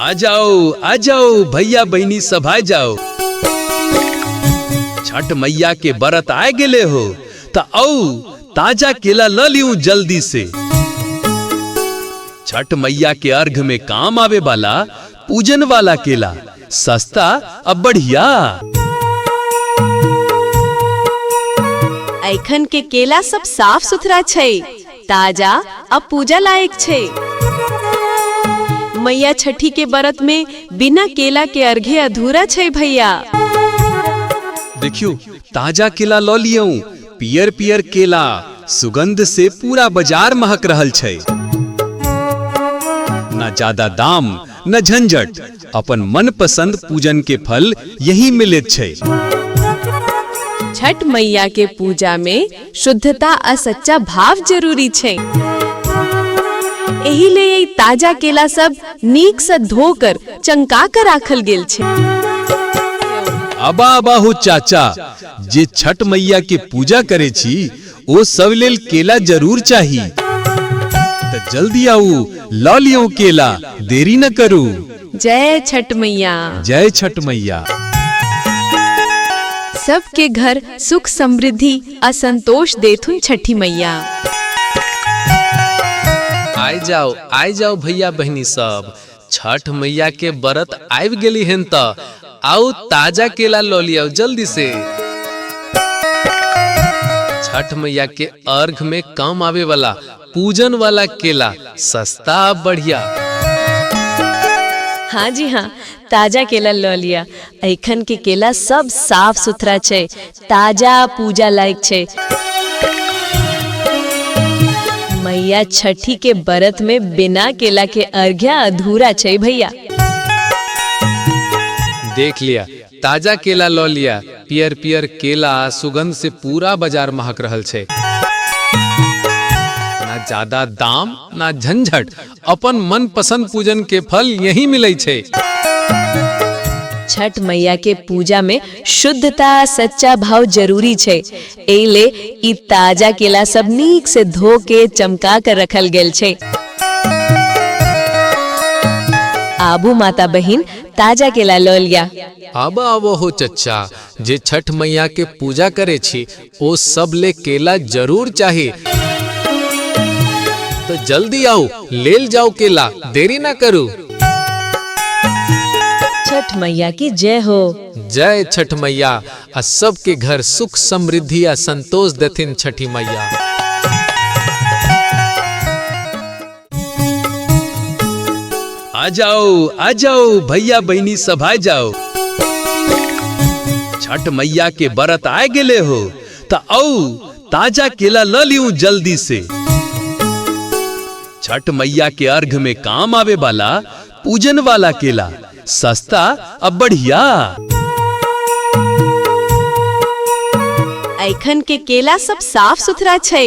आ जाओ आ जाओ भैया बहनी सब आ जाओ छठ मैया के बरत आए गेले हो त औ ताजा केला ल लियू जल्दी से छठ मैया के अर्घ में काम आवे वाला पूजन वाला केला सस्ता अब बढ़िया एखन के केला सब साफ सुथरा छै ताजा आ पूजा लायक छै मैया छठी के व्रत में बिना केला के अर्घे अधूरा छै भैया देखियो ताजा केला लऽ लियौ पियर पियर केला सुगंध से पूरा बाजार महक रहल छै ना ज्यादा दाम न झंझट अपन मनपसंद पूजन के फल यही मिलैत छै छठ मैया के पूजा में शुद्धता आ सच्चा भाव जरूरी छै एही ले ई ताजा केला सब नीक से धोकर चंका कर राखल गेल छै अबा बाहु चाचा जे छठ मैया के पूजा करे छी ओ सब लेल केला जरूर चाही त जल्दी आऊ ल लियो केला देरी न करू जय छठ मैया जय छठ मैया सबके घर सुख समृद्धि आ संतोष देथुन छठी मैया आय जाओ आय जाओ भैया बहनी सब छठ मैया के बरत आबि गेली हेन त आउ ताजा केला लऽ लियाउ जल्दी से छठ मैया के अर्घ में काम आवे वाला पूजन वाला केला सस्ता आ बढ़िया हाँ जी हाँ ताजा केला लऽ लिया एखन के केला सब साफ सुथरा छै ताजा आ पूजा लायक छै मैया छठी के व्रत में बिना केला के अर्घ्या अधूरा छै भैया देख लिया ताजा केला लऽ लिया पियर पियर केला आ सुगंध से पूरा बाजार महक रहल छै ना ज्यादा दाम ना झंझट अपन मन पसंद पूजन के फल यही मिले छे छठ मैया के पूजा में शुद्धता आ सच्चा भाव जरूरी छै एहि ले ई ताजा केला सब नीक से धो के चमका कर रखल गेल छै आबू माता बहिन ताजा केला लऽ लिया अब आवो हो चच्चा जे छठ मैया के पूजा करे छी ओ सब ले केला जरूर चाही तो जल्दी आओ लेल जाओ केला देरी ना करू छठ मैया की जय हो जय छठ मैया आ सबके घर सुख समृद्धि आ संतोष देथिन छठी मैया आ जाओ आ जाओ भैया बहनी सब आ जाओ छठ मैया के बरत आए गेले हो त औ ताजा केला ल लियू जल्दी से छठ मैया के अर्घ में काम आवे वाला पूजन वाला केला सस्ता अब बढ़िया एखन के केला सब साफ सुथरा छै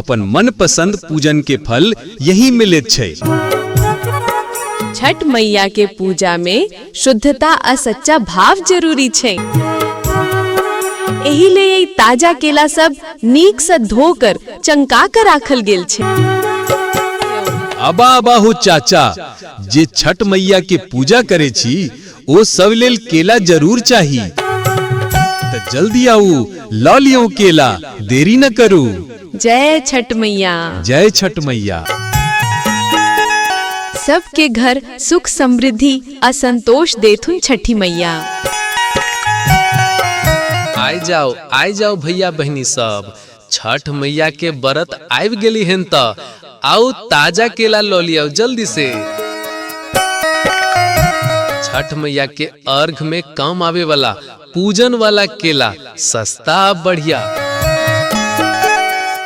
अपन मनपसंद पूजन के फल यही मिलैत छै छठ मैया के पूजा में शुद्धता आ सच्चा भाव जरूरी छै एही ले ई ताजा केला सब नीक से धोकर चंका कर राखल गेल छै अबा बाहु चाचा जे छठ मैया के पूजा करे छी ओ सब लेल केला जरूर चाही त जल्दी आऊ ल लियो केला देरी न करू जय छठ मैया जय छठ मैया सबके घर सुख समृद्धि आ संतोष देथुन छठी मैया आय जाओ आय जाओ भैया बहनी सब छठ मैया के बरत आबि गेली हेन त आउ ताजा केला लऽ लियाउ जल्दी से छठ मैया के अर्घ में काम आवे वाला पूजन वाला केला सस्ता आ बढ़िया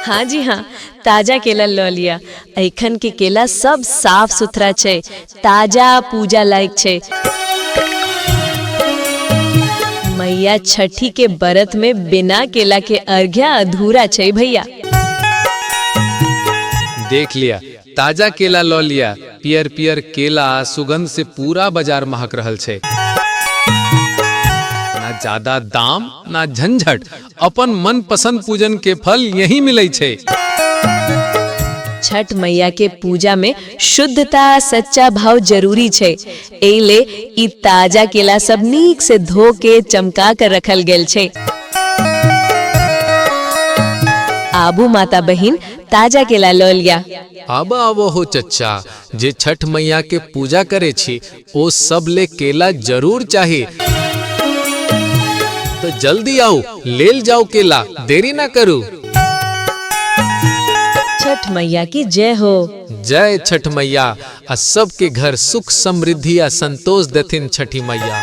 हाँ जी हाँ ताजा केला लऽ लिया एखन के केला सब साफ सुथरा छै ताजा आ पूजा लायक छै मैया छठी के व्रत में बिना केला के अर्घ्या अधूरा छै भैया देख लिया ताजा केला लऽ लिया पियर पियर केला आ सुगंध से पूरा बाजार महक रहल छै ना ज्यादा दाम ना झंझट अपन मन पसंद पूजन के फल यही मिले छे छठ मैया के पूजा में शुद्धता आ सच्चा भाव जरूरी छै एहि ले ई ताजा केला सब नीक से धो के चमका कर रखल गेल छै आबू माता बहिन ताजा केला लऽ लिया आबा आवो हो चच्चा जे छठ मैया के पूजा करे छी ओ सब ले केला जरूर चाहे तो जल्दी आओ लेल जाओ केला देरी ना करू छठ मैया की जय हो जय छठ मैया आ सबके घर सुख समृद्धि आ संतोष देथिन छठी मैया